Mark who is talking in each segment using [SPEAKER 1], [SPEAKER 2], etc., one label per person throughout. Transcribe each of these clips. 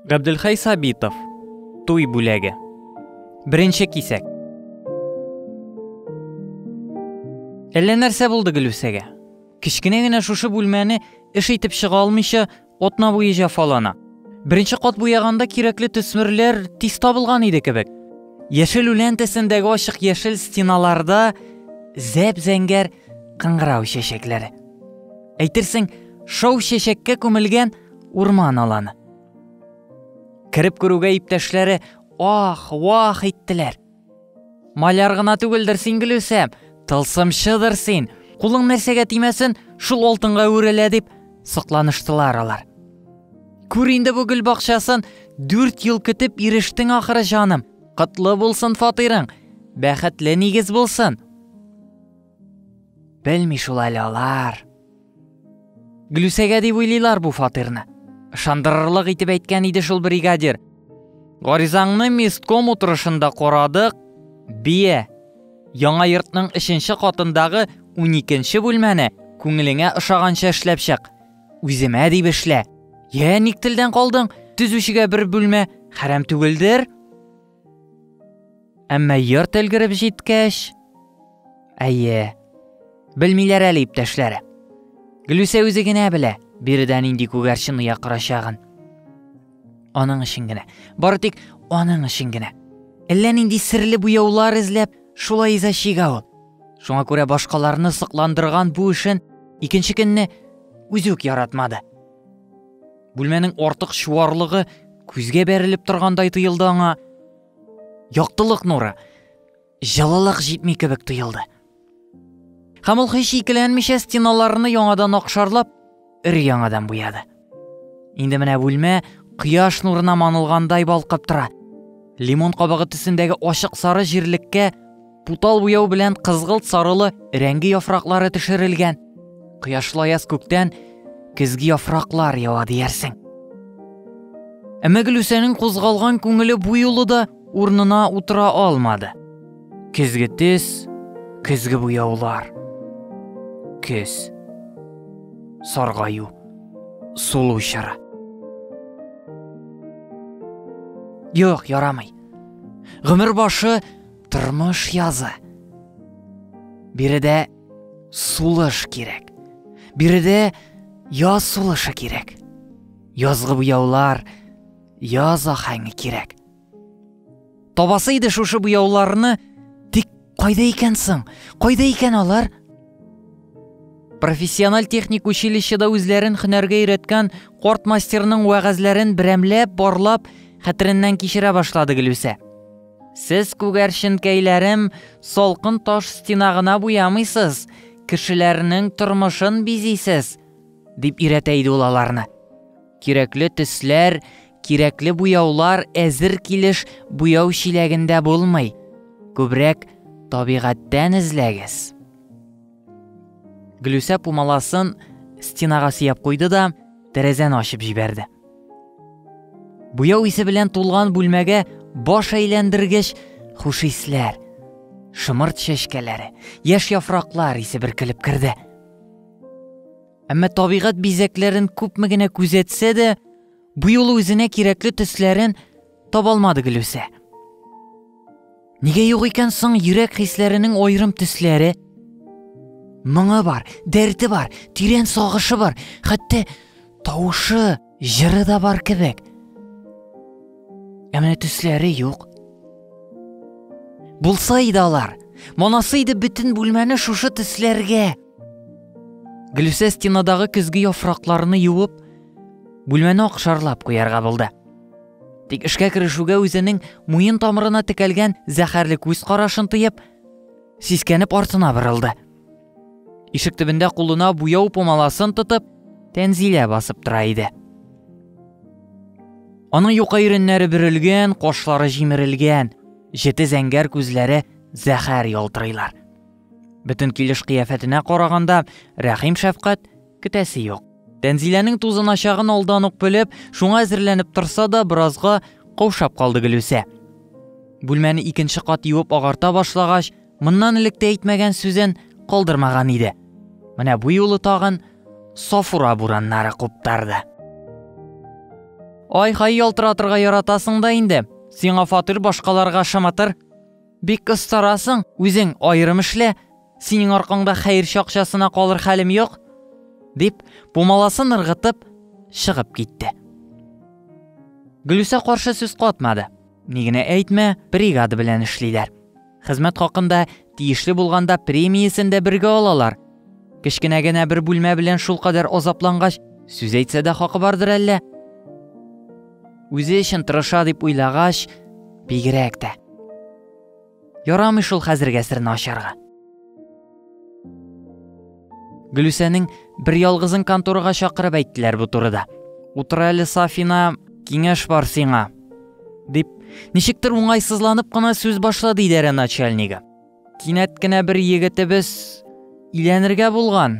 [SPEAKER 1] Габделхай Сабитов. Туй бүләге. Беренче кисәк. Әллә нәрсә булды Гөлүсәгә. Кечкенә генә шушы бүлмәне эш итеп чыга алмыйча атна буе җафалана. Беренче кат буяганда кирәкле төсмерләр тиз табылган иде кебек. Яшел үлән тәсендәге ачык яшел стеналарда зәп-зәңгәр кыңгырау чәчәкләре. Әйтерсең, шау чәчәккә күмелгән Урман аланы. Кереп күрүгә иптәшләре ах, вах иттеләр. Маляр гына түгелдер син, Гөлүсәм, тылсымчыдыр син. Кулың нәрсәгә тимәсен, шул алтынга үрелә дип сокланыштылар алар. Күр инде бу гөл бакчасын, дүрт ел көтеп ирештең ахыры җаным. Котлы булсын фатирың, бәхетле нигез булсын. Белми шул әле алар. Глюсәгә дип уйлыйлар бу фатирны. Шандырырлык итеп әйткән иде шул бригадир. Гаризаңны местком утырышында карадык. Бия. Яңа йортның өченче катындагы уникенче бүлмәне күңелеңә ошаганча эшләп чык. Үземә дип эшлә. Я, ник телдән калдың? Төзүчегә бер бүлмә хәрәм түгелдер? Әмма йорт өлгереп җиткәч, әйе, белмиләр әле иптәшләре. Гөлүсә үзе генә белә, биредә нинди күгәрчен оя корачагын. Аның өчен генә, бары тик аның өчен генә. Әллә нинди серле буяулар эзләп, шулай иза чига ул. Шуңа күрә башкаларны сокландырган бу эшен икенче көнне үзе үк яратмады. Бүлмәнең артык чуарлыгы күзгә бәрелеп торгандай тоелды аңа. Яктылык нуры җылылык җитми кебек тоелды. Һәм ул һич икеләнмичә стеналарны яңадан акшарлап, өр яңадан буяды. Инде менә бүлмә кояш нурына манылгандай балкып тора. Лимон кабыгы төсендәге ачык сары җирлеккә Путал буяу белән кызгылт-сарылы рәңге яфраклары төшерелгән. Кояшлы аяз күктән көзге яфраклар ява диярсең. Әмма Гөлүсәнең кузгалган күңеле бу юлы да урнына утыра алмады. Көзге төс, көзге буяулар. Көз. Саргаю. Сулу чоры. Юк, ярамый. Гомер башы Тормыш язы. Биредә сулыш кирәк. Биредә яз сулышы кирәк. Язгы буяулар, яз ахәңе кирәк. Табасы иде шушы буяуларны, тик кайда икән соң? Кайда икән алар? Профессиональ техник училищеда үзләрен һөнәргә өйрәткән карт мастерның вәгазьләрен берәмләп барлап, хәтереннән кичерә башлады Гөлүсә. Сез күгәрченкәйләрем салкын таш стена гына буямыйсыз, кешеләрнең тормышын бизисез, дип өйрәтә иде ул аларны. Кирәкле төсләр, кирәкле буяулар әзер килеш буяу чиләгендә булмый. Күбрәк табигатьтән эзләгез. Глюсә пумаласын стенага сөяп куйды да, тәрәзәне ачып җибәрде. Буяу исе белән тулган бүлмәгә баш әйләндергеч хуш исләр, шымырт чәчкәләре, яшь яфраклар исе бөркелеп керде. Әмма табигать бизәкләрен күпме генә күзәтсә дә, бу юлы үзенә кирәкле төсләрен Таба алмады Гөлүсә. Нигә юк икән соң йөрәк хисләренең аерым төсләре? Моңы бар, дәрте бар, тирән сагышы бар, хәтта тавышы, җыры да бар кебек. Ә менә төсләре юк. Булса иде алар, монасы иде бөтен бүлмәне шушы төсләргә. Гөлүсә стенадағы көзге яфракларны юып, бүлмәне акшарлап куярга булды. Тик эшкә керешүгә үзенең муен тамырына текәлгән зәхәрле күз карашын тоеп, сискәнеп артына борылды. Ишек төбендә кулына буяу помаласын тотып, Тәнзилә басып тора иде. Аның юка иреннәре бөрелгән, кашлары җимерелгән, җете зәңгәр күзләре зәхәр ялтырыйлар. Бөтен килеш кыяфәтенә караганда, рәхим шәфкать Көтәсе юк. Тәнзиләнең тузыначагын алдан ук белеп, шуңа әзерләнеп торса да, беразга каушап калды Гөлүсә. Бүлмәне икенче кат юып агарта башлагач, моннан элек тә әйтмәгән сүзен калдырмаган иде. Менә бу юлы тагын Сафура бураннары куптарды. Ай-хай ялтыратырга яратасың да инде. Сиңа фатир башкаларга шымытыр. Бик остарасың, үзең аерым эшлә, Синең аркаңда хәерче акчасына калыр хәлем юк, дип, пумаласын ыргытып, чыгып китте. Гөлүсә каршы сүз катмады. Ни генә әйтмә, бригада белән эшлиләр. Хезмәт хакында тиешле булганда премиясен дә бергә алалар. Кечкенә генә бер бүлмә белән шулкадәр азаплангач, сүз әйтсә дә хакы бардыр әллә? Үзе өчен тырыша дип уйлагач, бигрәк тә. Ярамый шул хәзергә серне ачарга. Гөлүсәнең бер ялгызын конторага чакырып әйттеләр бу турыда. Утыра әле Сафина, киңәш бар сиңа, дип, ничектер уңайсызланып кына сүз башлады идарә начальнигы. Кинәт кенә бер егетебез иләнергә булган,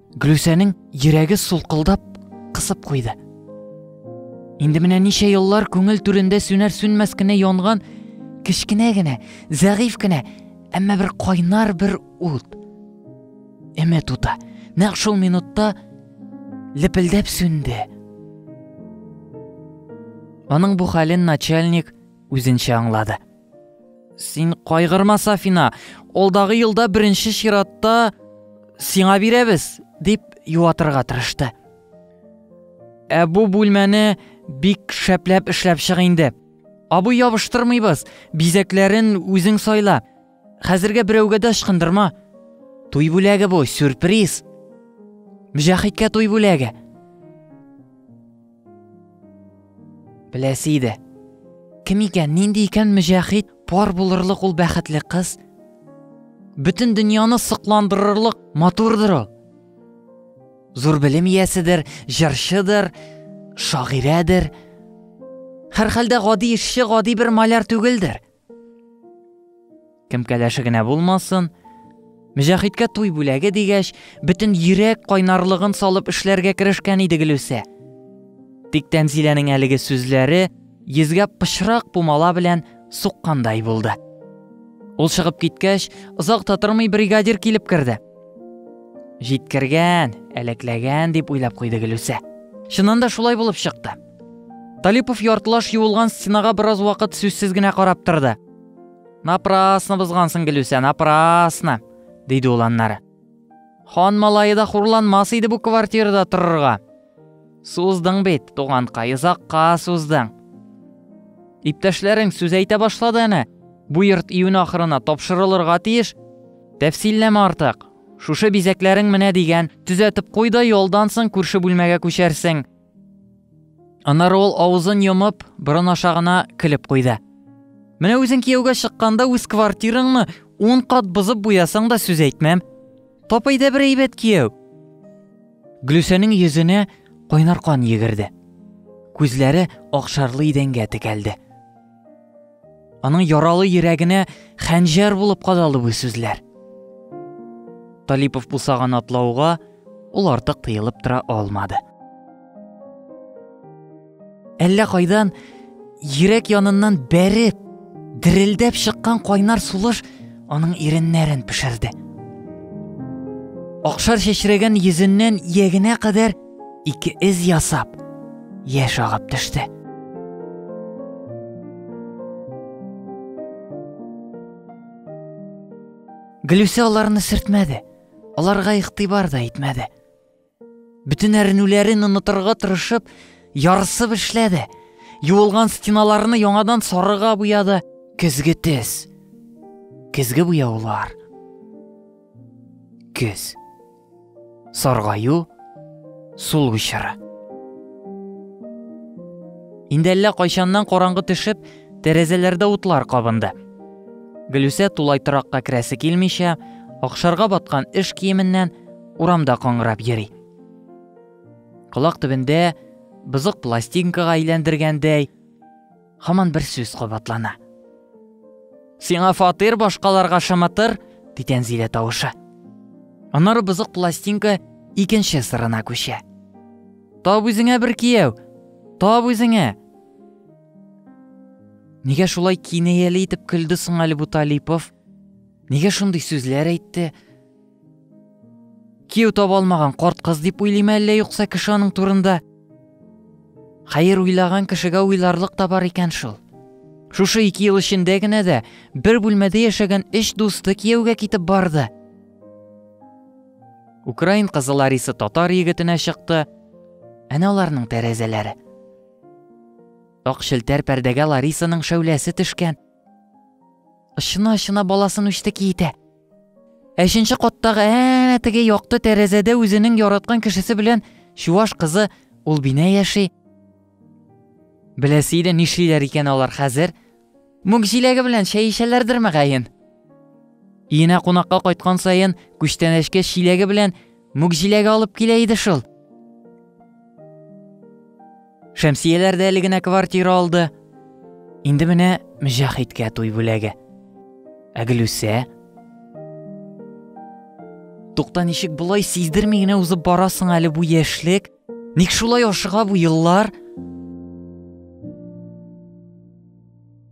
[SPEAKER 1] Гөлүсәнең йөрәге сулкылдап кысып куйды. Инде менә ничә еллар күңел түрендә сүнәр сүнмәс кенә янган кечкенә генә, зәгыйф кенә, әмма бер кайнар бер ут. Эме тута. Нәкъ шул минутта лепелдәп сүнде. Аның бу хәлен начальник үзенчә аңлады. Син кайгырма, Сафина, олдагы елда беренче чиратта сиңа бирәбез, дип юатырга тырышты. Ә бу бүлмәне бик шәпләп эшләп чык инде. Абый ябыштырмыйбыз, бизәкләрен үзең сайла. Хәзергә берәүгә дә ычкындырма. Туй бүләге бу, сюрприз. Мөҗәхидкә туй бүләге. Беләсе иде. Кем икән, нинди икән мөҗәхид, пар булырлык ул бәхетле кыз? Бөтен дөньяны сокландырырлык матурдыр ул. Зур белем ияседер, җырчыдыр, шагыйрәдер. Һәрхәлдә гади эшче, гади бер маляр түгелдер. Кем кәләше генә булмасын, Мөҗәхидкә туй бүләге дигәч, бөтен йөрәк кайнарлыгын салып эшләргә керешкән иде Гөлүсә. Тик Тәнзиләнең әлеге сүзләре йөзгә пычрак пумала белән суккандай булды. Ул чыгып киткәч, озак та тормый бригадир килеп керде. Җиткергән, әләкләгән дип уйлап куйды Гөлүсә. Чыннан да шулай булып чыкты. Талипов яртылаш юылган стенага бераз вакыт сүзсез генә карап торды. Напрасно бозгансың, Гелүсә, напрасно, диде ул аннары. Хан малае да хурланмас иде бу квартирада торырга. Суздың бит, туганкай, озакка суздың. Иптәшләрең сүз әйтә башлады әнә. Бу йорт июнь ахырына тапшырылырга тиеш. Тәфсилләмә артык. Шушы бизәкләрең менә дигән, төзәтеп куй да, ялдан соң күрше бүлмәгә күчәрсең. Аннары ул авызын йомып, борын аша гына көлеп куйды. Менә үзең кияүгә чыкканда үз квартираңны ун кат бозып буясаң да сүз әйтмәм. Тап әйдә бер әйбәт кияү. Гөлүсәнең йөзенә кайнар кан йөгерде. Күзләре акшарлы идәнгә текәлде. Аның яралы йөрәгенә хәнҗәр булып кадалды бу сүзләр. Талипов бусаган атлауга ул артык тыелып тора алмады. Әллә кайдан йөрәк яныннан бәреп, дерелдәп чыккан кайнар сулыш аның иреннәрен пешерде. Акшар чәчрәгән йөзеннән иягенә кадәр ике эз ясап, яшь агып төште. Гөлүсә аларны сөртмәде, аларга игътибар да итмәде. Бөтен әрнүләрен онытырга тырышып, ярсып эшләде. Юылган стеналарны яңадан сарыга буяды, көзге төс. Көзге буяулар. Көз. Саргаю, сулу чоры. Инде әллә кайчаннан караңгы төшеп, тәрәзәләрдә утлар кабынды. Гөлүсә тулай торакка керәсе килмичә, акшарга баткан эш киеменнән урамда каңгырап йөри. Колак төбендә бызык пластинкага әйләндергәндәй, һаман бер сүз кабатлана. Сиңа фатир башкаларга шымытыр, ди Тәнзилә тавышы. Аннары бозык пластинка икенче сырына күчә. Тап үзеңә бер кияү, тап үзеңә. Нигә шулай кинаяле итеп көлде соң әле бу Талипов? Нигә шундый сүзләр әйтте? Кию таба алмаган карт кыз дип уйлыйм әллә юкса кеше аның турында? Хәер уйлаган кешегә уйларлык та бар икән шул. Шушы ике ел эчендә генә дә бер бүлмәдә яшәгән өч дусты кияүгә китеп барды. Украин кызы Лариса татар егетенә чыкты. Әнә аларның тәрәзәләре. Ак шелтәр пәрдәгә Ларисаның шәүләсе төшкән. Ышына-ышына баласын үчтеки итә. Әченче каттагы әнә теге якты тәрәзәдә үзенең яраткан кешесе белән чуваш кызы ул бина яши. Беләсе иде нишлиләр икән алар хәзер? Мүк җиләге белән чәй ишәләрдер мәгаен. Иенә кунакка кайткан саен күчтәнәчкә чиләге белән мүк җиләге алып килә иде шул. Шәмсияләр дә әле генә квартира алды. Инде менә Мөҗәхидкә туй бүләге. Ә Гөлүсә? Тукта ничек болай сиздерми генә узып барасың әле бу яшьлек? Ник шулай ашыга бу еллар?